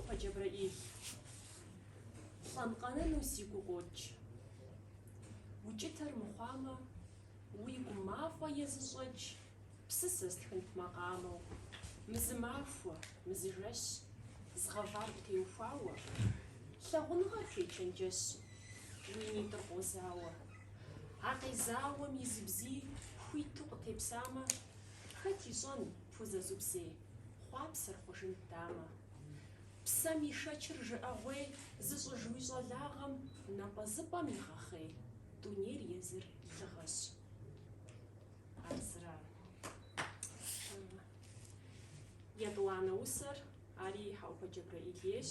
Хьэӏупэ Джэбрэӏил, лӏэн къэнэну си гу къокӏ. Укӏытэр мыхъуамэ, уи гу мафӏэ езыщӏэкӏ, псысэ стхынт макъамэу, мызымахуэ, мызыжэщ, згъэвар къытеухуауэ, лъагъуныгъэр хуечэнджэщ, уи нитӏыр къозауэ. А къезауэм и зы бзий хуиту къытепсамэ, хэт ищӏэн пхузэзубзей хъуапсэр хъужынт дамэ. Псэм ишэчыр жыӏэгъуей зыщӏыж уи щӏалагъэм напӏэзыпӏэм игъэхъей, дунейр езыр лыгъэщ. Ар зыра? Етӏуанэ усэр, ари Хьэӏупэ Джэбрэӏил ейщ.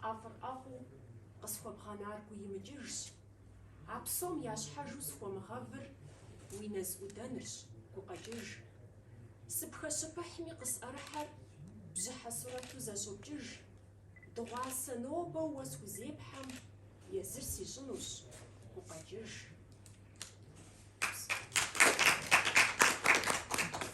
ӏэфӏыр ӏэфӏу къысхуэбгъэнар гуимыкӏыжщ, а псом я щхьэжу схуэмыгъэвыр уи нэз ӏудэнырщ, гукъэкӏыж. Сыпхэщыпыхьми къысӏэрыхьэр бжьыхьэ сурэту зэщӏокӏыж, дыгъуасэ нобэу уэ схузепхьэм, езыр сищӏынущ, гукъэкӏыж.